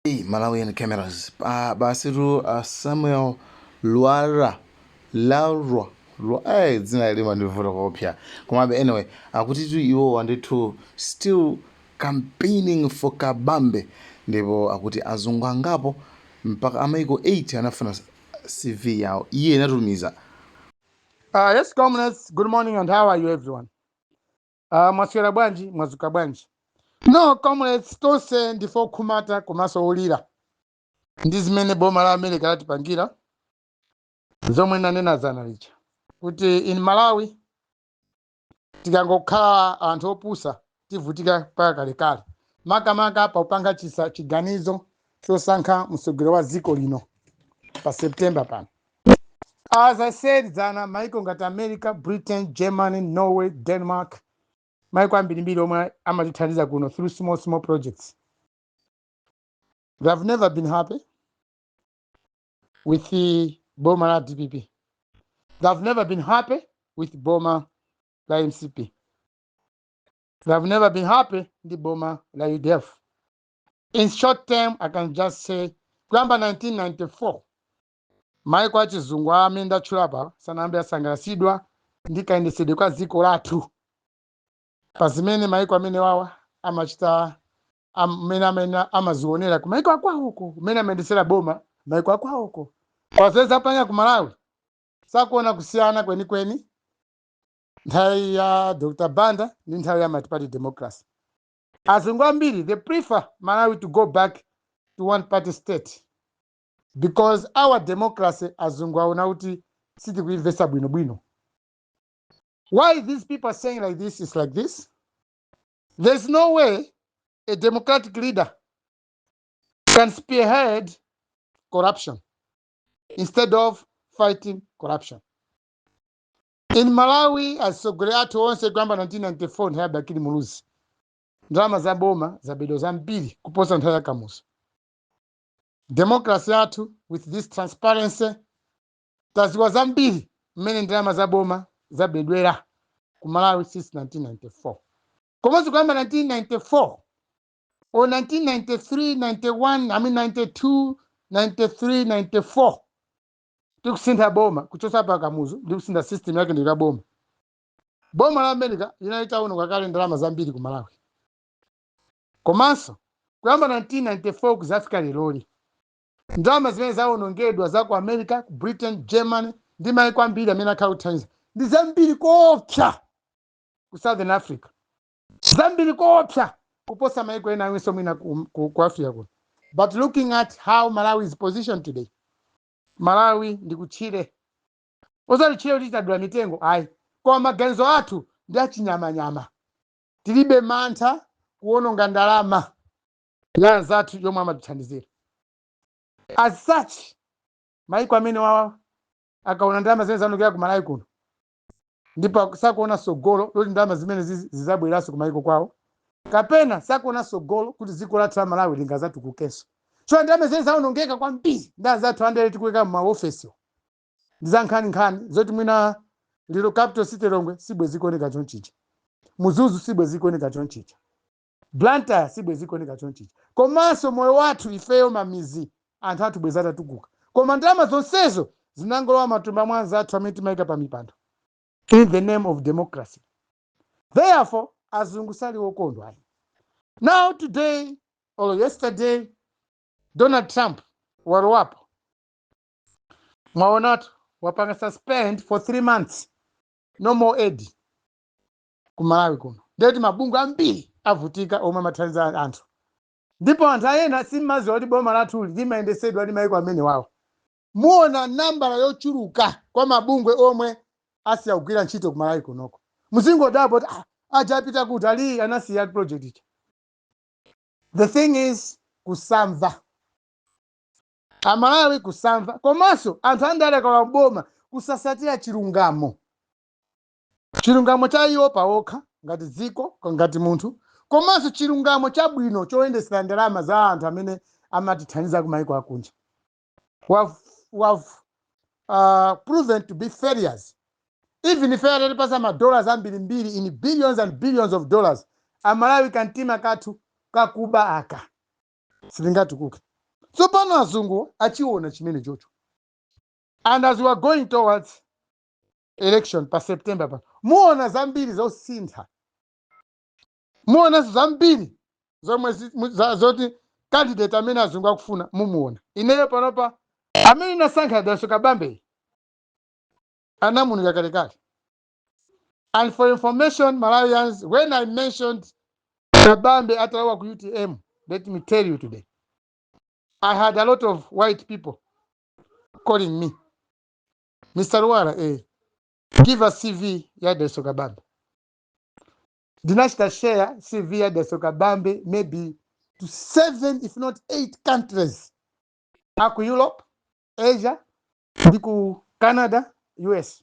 Hey, Malawian cameras. Ah, basitu, Samuel Luara Laura Lu- Ai, dzina ili limandivuta kukopya komabe anyway akutitu iwowa ndithu still campaigning for kabambe ndipo akuti azungu angapo mpaka a maiko 8 anafuna cv yawo iye anatumiza Uh, yes, comrades. Good morning, and how are you, everyone? Ah, mwaswera bwanji mwadzuka bwanji no comrades tonse ndife okhumudwa komanso olira ndi zimene boma la america latipangira zomwe nanena dzana lija kuti in malawi tikangokhala anthu opusa tivutika mpaka kalekale makamaka pakupanga chisa chiganizo chosankha mtsogoleri wa dziko lino pa september pano as i said dzana maiko ngati america britain germany norway denmark maiko ambirimbiri omwe amatithandiza kuno through small small projects they have never been happy with the boma la dpp they have never been happy with boma la mcp they have never been happy ndi boma la udf in short term i can just say kuyamba 1994 Maiko achizungu amene ndatchula apa sanayambe asangalatsidwa ndi kayendetsedwe kwa dziko lathu pa zimene maiko amenewawa amachita amene amene amazionera ku maiko akwawoko mmene amayendetsera boma maiko akwawoko poyerekeza pano ku malawi sakuona kusiyana kwenikweni nthawi ya dr banda ndi nthawi ya multiparty democracy azungu ambiri they prefer malawi to go back to one party state because our democracy azungu aona kuti sitikuimvetsa bwinobwino why these people are saying like this is like this there's no way a democratic leader can spearhead corruption instead of fighting corruption in malawi atsogoleri athu onse kuyamba 1994 nthawi ya bakili muluzi ndalama za boma zabedwa zambiri kuposa nthawi ya kamuzu democracy yathu with this transparency tadziwa zambiri mmene ndalama za boma zabedwera ku malawi since 1994 komanso kuyamba 1994 or 1993 91 i mean 92 93 94 tikusintha boma kuchotsa pa kamuzu ndi kusintha system yake ndi kuika boma boma la america linali litaononga kale ndalama zambiri ku malawi Komanso, kuyamba 1994 kudzafika leroli, ndalama zimene zawonongedwa za ku America, ku Britain, Germany, ndi mayiko ambiri amene akhala akuthandiza, ndi zambiri koopsa ku Southern Africa, zambiri koopsa kuposa mayiko ena awinso mwina ku, ku, ku Africa kuno. But looking at how Malawi is positioned today, Malawi ndi kutchire. Osati tchire kuti tadula mitengo, ayi. Koma maganizo athu ndi achinyamanyama. Tilibe mantha kuwononga ndalama ya anzathu yomwe amatithandizira. As such, maiko amene wawa akaona ndalama zimene zaonongeka ku Malawi kuno ndipo aku- sakuona sogolo loti ndalama zimene zizi- zizabwereranso ku maiko kwawo kapena sakuona sogolo kuti dziko lathu la Malawi lingazatukukenso. So ndalama zimene zawonongeka kwambiri ndi anzathu andale tikuika m'maofesiwo. ndi za nkhaninkhani zoti mwina lero capital city Lilongwe sibwezi ikuoneka chonchicha Mzuzu sibwezi ikuoneka chonchicha blantyre sibwezi ikuoneka chonchicha komanso moyo wathu ifeyo m'mamidzi anthu athu bwezi atatukuka koma ndalama zonsezo zinangolowa m'matumba mwa anzathu amene timayika pa mipando in the name of democracy therefore azungu sali okondwa ayi now today or yesterday donald trump walowapo mwaonatu wapanga suspend for three months no more aid ku malawi kuno ndiye kuti mabungwe ambiri avutika omwe amathandiza anthu ndipo anthu enawa simmaziwa kuti boma lathuli limayendetsedwa ndi maiko amene wawo muona nambala yochuluka kwa mabungwe omwe asiya kugwira ntchito ku malawi kunoko muzingodabwa kuti "Ah, aja apita kuti ali anasiya project ija the thing is kusamva amalawi kusamva komanso anthu andale akalowa m'boma kusasatira chilungamo chilungamo cha iwo pawokha ngati dziko ko- ngati munthu komanso chilungamo chabwino choyendetsera ndalama za anthu amene amatithandiza kumayiko akunja we've, we've, uh, proven to be failures even if atatipasa madollars ambirimbiri in billions and billions of dollars amalawi kamtima kathu kakuba aka sitingatukuke tsopano azungu achiona chimene chocho and as we are going towards election pa september pa muona zambiri zosintha muonanso zambiri zomwe zi- mu- za- zoti candidate amene azungu akufuna mumuona ineyo panopa amene ndinasankha Dalitso Kabambe anamunika kalekale And for information, Malawians, when I mentioned Kabambe Atalawa ku UTM, let me tell you today, I had a lot of white people calling me, Mr. Luara, eh, give us CV ya Deso Kabambe. Dinashita share CV ya Deso Kabambe maybe to seven, if not eight countries. Aku Europe, Asia, ndi ku Canada, US.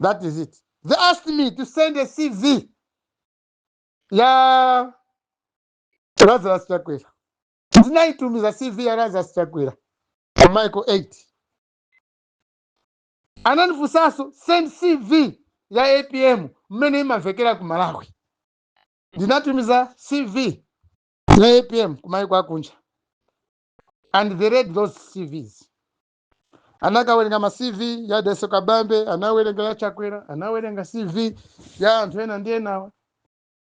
that is it they asked me to send a cv ya lazarus chakwera ndinaitumiza cv ya lazarus chakwera ku maiko 8 anandifunsanso send cv ya apm mmene imamvekera ku malawi ndinatumiza cv ya apm ku maiko akunja and they read those cvs anakawerenga ma cv ya Dalitso kabambe anawerenga ya chakwera anawerenga cv ya anthu ena ndi enawa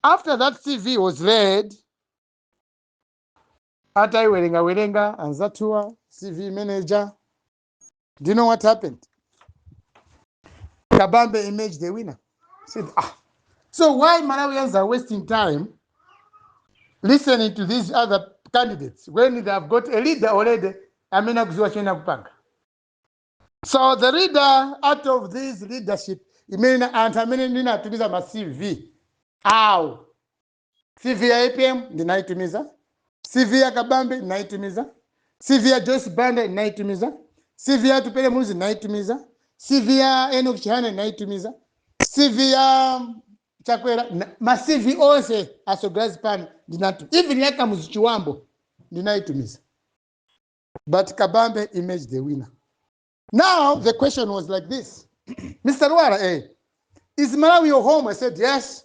after that cv was read atayiwerengawerenga anzathuwa cv imene ija do you know what happened kabambe emerged the winner I said, ah, so why Malawians are wasting time listening to these other candidates when they have got a leader already amene akudziwa chimene akupanga so the leader out of this leadership imene anthu amene ndinatumiza ma cv awo CV ya APM ndinaitumiza, CV ya Kabambe ndinaitumiza, CV ya Joyce Banda ndinaitumiza, CV ya Atupele Muluzi ndinaitumiza, CV ya Enoch Chihana ndinaitumiza, CV ya Chakwera na- ma CV onse atsogoleri pano ndinatu, even ya Kamuzu Chibambo ndinaitumiza, but Kabambe emerged the winner. Now the question was like this, Mr. Lwara, eh, is Malawi your home? I said yes.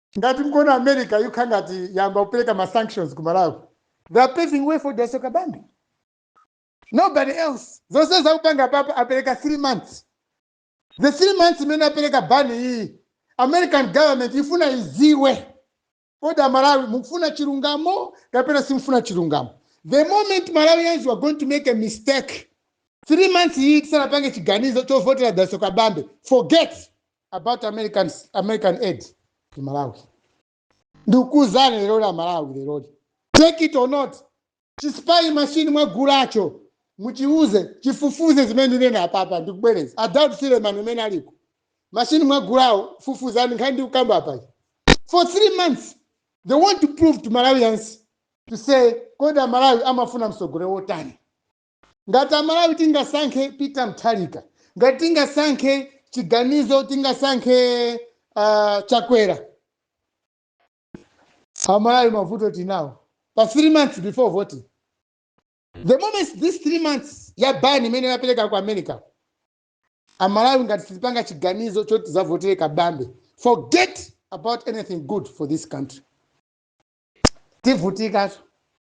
Ngati mukuona America ikukhala ngati yayamba kupereka ma sanctions ku Malawi they are paving way for Dalitso Kabambe nobody else zonsezi akupanga apapa apereka 3 months the 3 months imene apereka ban iyiyi American government ifuna idziwe kodi amalawi mukufuna chilungamo kapena simufuna chilungamo the moment malawians you are going to make a mistake 3 months iyi tisanapange chiganizo chovotera Dalitso Kabambe forget about American, American aid to Malawi. Ndikukuuzani leroli Amalawi leroli. Take it or not. Chi spy machine mwagulacho muchiuze chifufuze zimene ndikunena apapa ndikubwereza. Daud Suleman kumene uliko. Machine mwagulawo fufuzani nkhani ndikukamba apa. For three months they want to prove to Malawians to say kodi Amalawi amafuna mtsogoleri wotani. Ngati Amalawi tingasankhe Peter Mutharika, ngati tingasankhe chiganizo, tingasankhe ah, Chakwera, Amalawi mavuto tinawo pa three months before voting. The moment this three months ya ban imene yapereka ku America, Amalawi ngati sitipanga chiganizo choti tidzavotere Kabambe, forget about anything good for this country. Tivutikatu.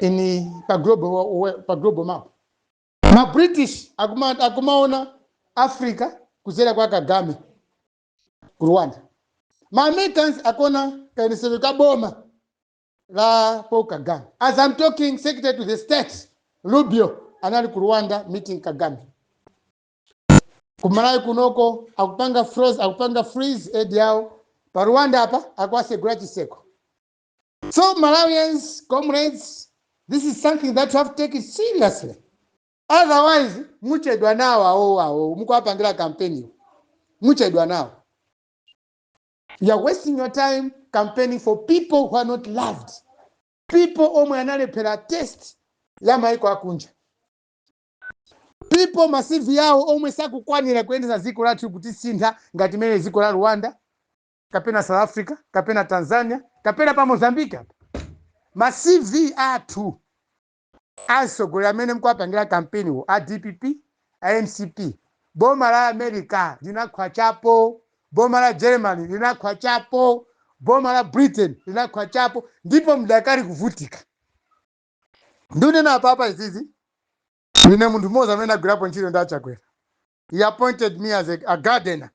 ini pa global, wa- wa- pa global map ma british akuma- akumaona africa kudzera kwa kagame ku rwanda ma americans akuona kayendetsedwe ka boma la paul kagame as i'm talking secretary to the state rubio anali ku rwanda meeting kagame kumalawi kunoko akupanga froze akupanga freeze aid yawo pa rwanda apa akuwatsegula chitseko So Malawians, comrades, this is something that you have to take it seriously. Otherwise, muchedwa nawo awo awo mukuwapangira kampeni muchedwa nawo. You are wasting your time campaigning for people who are not loved. People omwe analephera test ya maiko akunja. People ma CV yawo omwe sakukwanira kuyendetsa dziko lathu kutisintha ngati mene dziko la Rwanda kapena south africa kapena tanzania kapena pa mozambique apa ma cv athu atsogoleri amene mkuwapangira kampeniwo a dpp a mcp boma la america linakhwachapo boma la germany linakhwachapo boma la britain linakhwachapo ndipo mdakali kuvutika ndikunena apapa izizi ndine munthu mmodzi amene wagwirapo ntchito ndi achakwera he appointed me as a, a gardener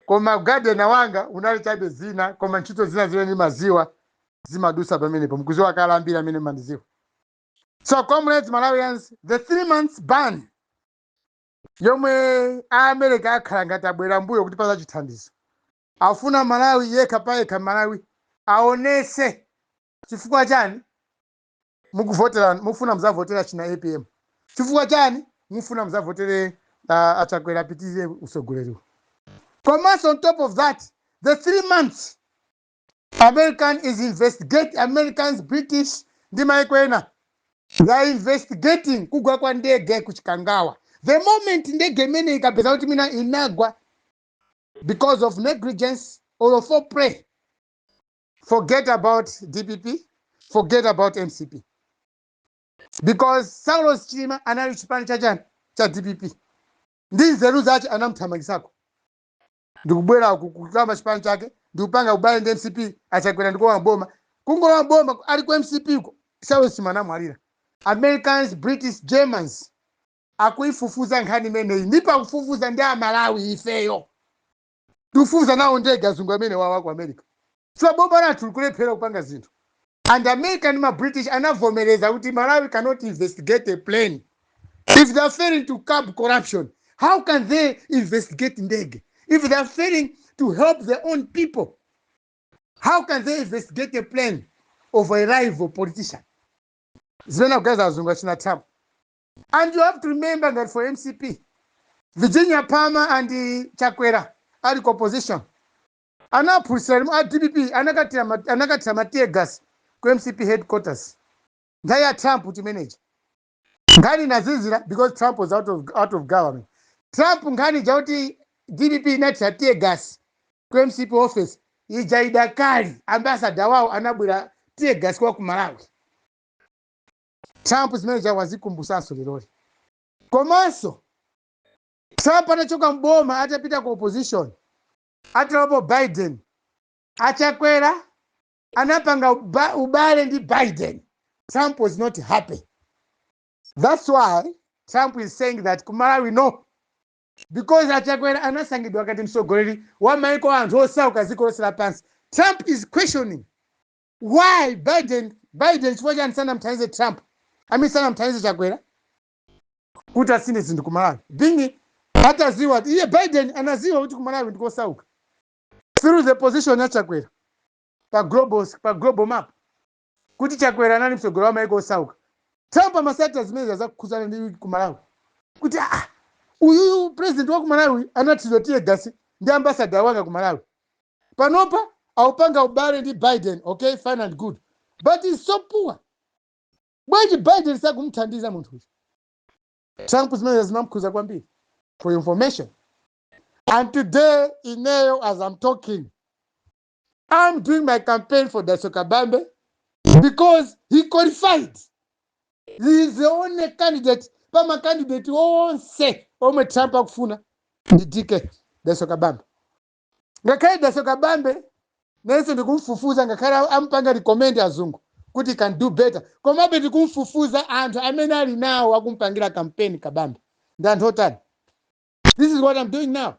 Koma u gardener wanga unali chabe dzina koma ntchito zina zimene ndimaziwa zimadusa pamenepo mkuziwa kale ambiri amene mmandiziwa so comrades malawians the three months ban yomwe aamerika akhala ngati abwera mbuyo kutipatsa chithandizo afuna malawi yekha payekha malawi aonese chifukwa chani mukuvotera mufuna muzavotere achina apm chifukwa chani mufuna muzavotere uh, achakwera apitirire usogoleriwo komanso on top of that the three months american is investigate americans british ndi maiko ena they are investigating kugwa kwa ndege kuchikangawa the moment ndege imene ikapeza kuti mwina inagwa because of negligence or foul play forget about dpp forget about mcp because saulos chilima anali chipani cha chani cha dpp ndi nzeru zache anamthamangitsako ndikubwera ku- kuyamba chipani chake ndikupanga ubale ndi mcp achakwera ndikulowa boma kungolowa boma ali ku mcp ko saulos chilima anamwalira americans british germans akuifufuza nkhani imeneyi ndipo akufufuza ndi amalawi ifeyo tikufufuza nawo ndege azungu amenewa aku america so boma lathu likulephera kupanga zinthu and america ndi ma british anavomereza kuti malawi cannot investigate a plane if they are failing to curb corruption how can they investigate ndege if they are failing to help their own people how can they investigate a plane of a rival politician zimene akuganiza azungu achina thapo And you have to remember that for MCP, Virginia Palmer and uh, Chakwera ali ku opposition. Anaphulisa a DPP anakathira ma- anakathira ma tear gas ku MCP headquarters. Nthawi ya Trump chimenechi. Nkhani inazizira because Trump was out of out of government. Trump nkhani ija kuti DPP inathira tear gas ku MCP office ija idakali ambassador wawo anabwira tear gas wa ku Malawi. Trump zimene zija wazikumbusanso leloli. Komanso Trump anachoka m'boma atapita ku opposition atalopo Biden, a Chakwera anapanga uba- ubale ndi Biden. Trump was not happy. That's why Trump is saying that ku Malawi no because achakwera anasankhidwa ngati mtsogoleri wa maiko a anthu osauka dziko lonse lapansi trump is questioning why biden biden chifukwa chani sanamthandize trump i mean sanamthandize chakwera kuti asinthe zinthu ku malawi bwanji ataziwa ati iye biden anaziwa kuti ku malawi ndikosauka through the position ya chakwera pa global, pa global map kuti chakwera anali mtsogoleri wa maiko osauka trump amasatira zimenezi zokhudzana ndi ku malawi kuti ah, ah, uyuyu president wa ku malawi anathidwa tear gas ndi ambasada wanga ku malawi panopa akupanga ubale ndi biden okay fine and good but he's so poor bwanji biden sakumthandiza munthu uyu trump zimenezo zinamkhuza kwambiri for information and today ineyo as i'm talking i'm doing my campaign for dalitso kabambe because he qualified he is the only candidate pamakandidate onse omwe trump akufuna ndi dk dalitso kabambe ngakhale dalitso kabambe ineso ndikumfufuza ngakhale a- ampanga recommend azungu kuti he can do better komabe tikumfufuza anthu amene ali nawo akumpangira campaign kabambe ndi anthu otani this is what i'm doing now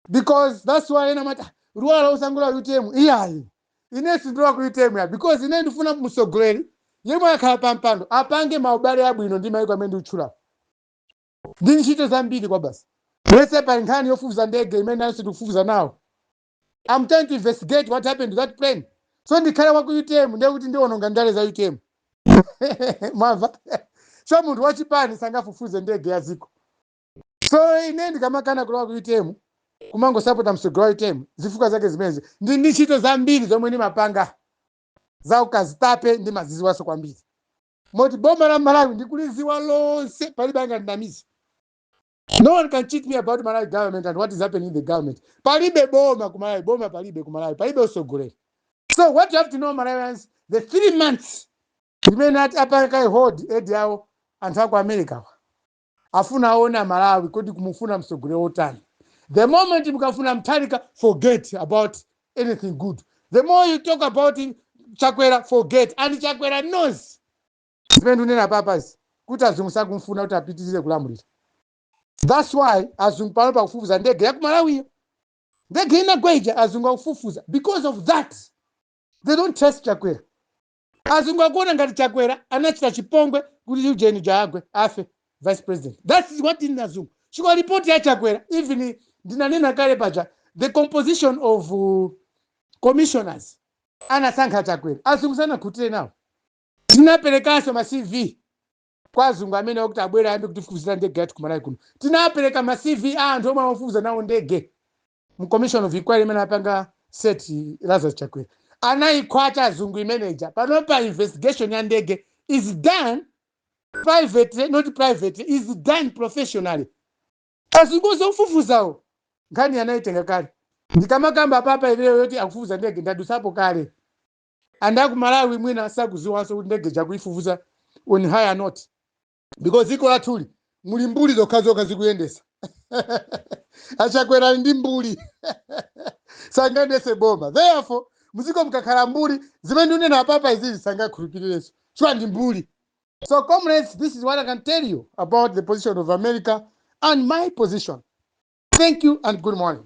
because that's why ena amati luwala usangula utm iyayi ine sindilowa ku utm ya because ine ndifuna msogoleri yemwe akhala pampando apange maubale abwino ndi maiko amene ndikutchulawo ndi ntchito zambiri kwabasi lese pa nkhani yofufuza ndege imene nanenso ndikufufuza nawo I'm trying to investigate what happened to that plane so ndikhale wa ku utm ndiye kuti ndiononga ndale za utm mwamva so munthu wachipani sangafufuze ndege ya dziko so ine ndikamakana kulowa ku utm kumangosapota msogolo wa utm zifukwa zake zimenezi ndili ndi ntchito zambiri zomwe ndimapanga za ukazitape ndimaziziwanso kwambiri moti boma la malawi ndikuliziwa lonse palibe angandinamize no one can cheat me about malawi government and what is happening in the government palibe boma ku malawi boma palibe ku malawi palibe usogoleri so what you have to know malawians the three months imene ati apanga hold aid yawo anthu aku america wa afuna aone amalawi kodi akumufuna msogoleri wotani the moment mukafuna mutharika forget about anything good the more you talk about chakwera forget and chakwera knows zimene ndikunena apapazi kuti azungu sakumfuna kuti apitirize kulamulira that's why azungu pano pakufufuza ndege ya ku malawiyo ndege inagwa ija azungu akufufuza because of that they don't trust chakwera azungu akuona ngati chakwera anachita chipongwe kuti ndege ija igwe afe vice president that is what in azungu chifukwa report ya chakwera even ndinanena kale paja the composition of uh, commissioners anasankha chakwera azungu sanakhutire nawo tinaperekanso ma cv kwa azungu amene akuti abwere ayambe kutifufuzira ndege yathu ku malawi kuno tinapereka ma cv a anthu omwe amafufuza nawo ndege mu commission of inquiry imene anapanga set lazarus chakwera anayikhwacha azungu imene ija panopa investigation ya ndege is done privately not privately is done professionally azungu ofufuzawo nkhani anayitenga kale ndikamakamba apapa leveyo yoti akufufuza ndege ndadusapo kale anthu aku malawi mwina sakuziwanso kuti ndege ija akuifufuza on higher note because dziko lathuli muli mbuli zokhazokha zikuyendesa achakwerani ndi mbuli sangayendese boma therefore muziko mkakhala mbuli zimene ndikunena apapa izizi sangakhulupirirenso chifukwa ndi mbuli so comrades this is what i can tell you about the position of america and my position thank you and good morning